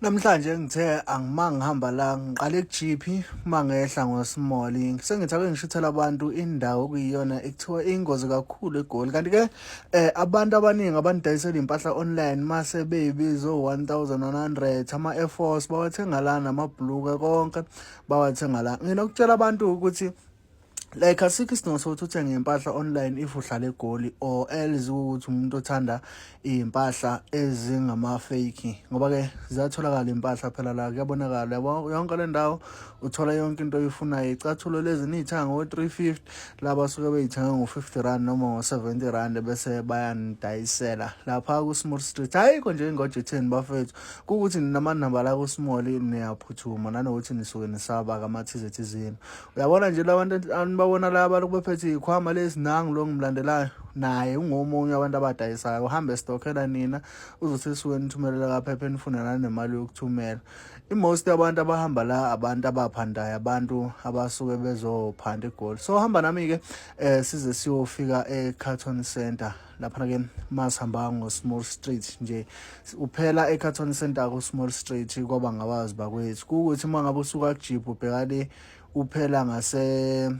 Namhlanje ngithe angima ngihamba la ngiqale kuGP mangehla ngoSimoli sengithi ake ngishithela abantu indawo kuyiyona ekuthiwa ingozi kakhulu eGoli kanti ke eh, abantu abaningi abanidayisela impahla online mase beyibizo 1100 ama Air Force bawathenga la namabhuluka konke bawathenga la nginokutshela abantu ukuthi like asikho isidingo sokuthi uthenge impahla online if uhlala egoli or else ukuthi umuntu othanda iy'mpahla ezingama-fake ngoba-ke ziyatholakala iy'mpahla phela la kuyabonakala yonke le ndawo uthola yonke into oyifunayo icathulo lezi niyithanga ngo-three fifty laba suke beyithenge ngo-fifty rand noma ngo-seventy rand bese bayanidayisela lapha ku-small street hhayikho nje ingojetheni bafethu kukuthi ninamanamba la ku-small niyaphuthuma nanokuthi nisuke nisaba kamathize thizeni Uyabona nje labantu anibabona la balokhu bephethe ikhwama lesinangu lo ngimlandelayo naye ungomunye abantu abadayisayo uhambe stokhela nina uzothi suke nithumelela kaphepha enifuna nanemali yokuthumela i-most abantu abahamba la abantu abaphandayo abantu abasuke bezophanda igoli so hamba nami-ke um size siyofika e-carton center lapha ke masihamba ngo-small street nje uphela ecarton center ku-small street kwaba ngabazi bakwethu kuwukuthi uma ngabe usuka kujibhu ubheka le uphela ngase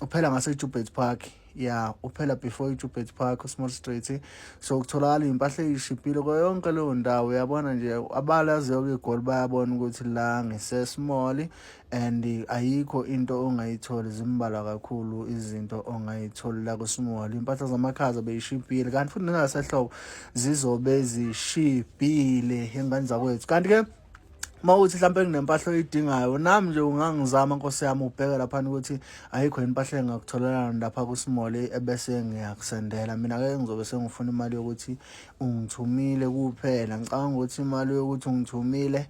uphela ngase-jubert park ya uphela before ijubert park usmall street so kutholakala iy'mpahla eyishibhile kwayo yonke leyo ndawo uyabona nje abalaziyo-ke igoli bayabona ukuthi la ngisesmall and ayikho into ongayitholi zimbalwa kakhulu izinto ongayitholi la kuSmall impahla zamakhaza beyishibhile kanti futhi nengasehlobo zizobe zishibhile engane zakwethu kanti ke uma uthi mhlawumbe kunempahla oyidingayo nami nje ungangizama nkosi yami ubheke laphana ukuthi ayikho yini impahla engakutholelana lapha kuSmall ebese ngiyakusendela mina ke ngizobe sengifuna imali yokuthi ungithumile kuphela ngicabanga ukuthi imali yokuthi ungithumile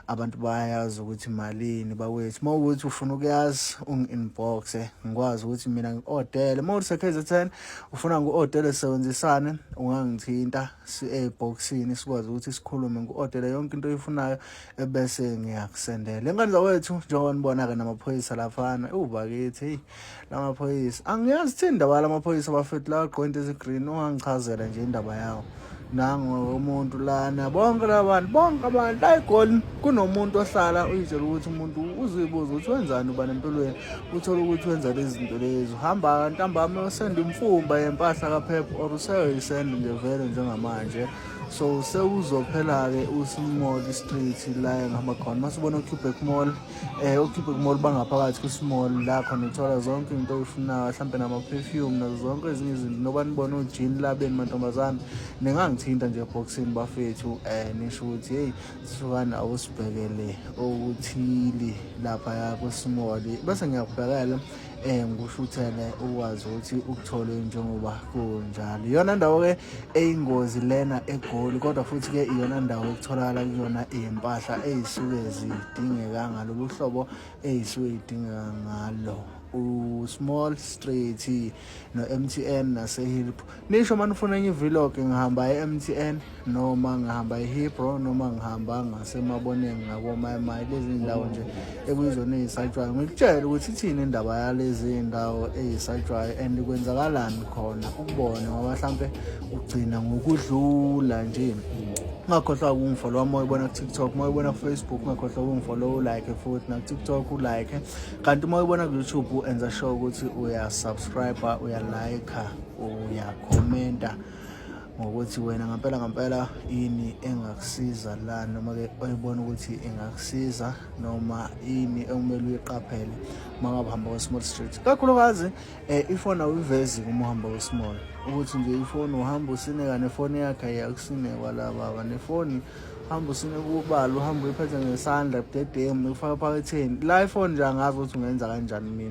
abantu bayazi ukuthi malini bakwethu uma ukuthi ufuna ukuyazi ungi-inboxe ngikwazi ukuthi mina ngi-odele uma ukuthi sekhe zethene ufuna ngu-odele sisebenzisane ungangithinta si-ebhoksini sikwazi ukuthi sikhulume ngu-odele yonke into oyifunayo ebese ngiyakusendela engane zawethu njengoba nibona-ke namaphoyisa laphana ubakithi heyi lamaphoyisa angiyazi thini indaba yalamaphoyisa bafethu lawa gqoke into ezigreen ungangichazela nje indaba yawo nango umuntu lana bonke labantu bonke abantu ayigoli kunomuntu ohlala uyitshela ukuthi umuntu uzibuza ukuthi wenzani uba nempilweni uthole ukuthi wenza lezi zinto lezi uhamba ntambami usenda imfumba yempahla kaphepha or useyisenda nje vele njengamanje so sewuzophela-ke usimall street la engihamba khona masibona ucuback mall eh ukhiphe kumall bangaphakathi kwisimall la khona uthola zonke into oyifunayo mhlampe nama-perfume nazo zonke ezinye izinto noba nibona ujini labeni mantombazane ningangithinta nje eboxini bafethu um nisho ukuthi heyi sifukane awusibhekele okuthile lapha yakwisimall bese ngiyakubhekela eh ngikushuthele ukwazi ukuthi ukutholwe njengoba kunjalo iyona ndawo ke eyingozi lena egoli kodwa futhi ke iyona ndawo ekutholakala kuyona impahla ezisuke zidingeka ngalolu hlobo ezisuke idingeka ngalo u-small straight no-mtn nase-hilp Nisho uma nifuna enye vlog ngihamba e-MTN noma ngihamba e-Hebrew noma ngihamba ngasemaboneni ngakomayimai lezi ndawo nje ekuyizona eyisatshwayo ngikutshele ukuthi ithini indaba yalezi ndawo eyisatshwayo and kwenzakalani khona ukubona ngoba mhlampe ugcina ngokudlula nje ungakhohlwa ukungifolowa uma uyibona kutiktok uma uyibona kufacebook ungakhohlwa ukungifolowa ulike futhi nakutiktok ulike kanti uma uyibona kuyoutube enza sure ukuthi uyasubscribe uyalike uyakhomenta ngokuthi wena ngampela ngampela ini engakusiza la noma ke oyibona ukuthi ingakusiza noma ini ekumele uyiqaphele uma ngabe uhamba kwe-small street kakhulukazi um ifoni awuyivezi uma uhamba kwe-small ukuthi nje ifoni uhamba usineka nefoni yakhe iyakusinekwa la baba nefoni hamba usine kubala uhamba uyiphethe ngesandla budedengu ukufaka ephaketheni la ifoni nje angazi ukuthi ungenza kanjani mina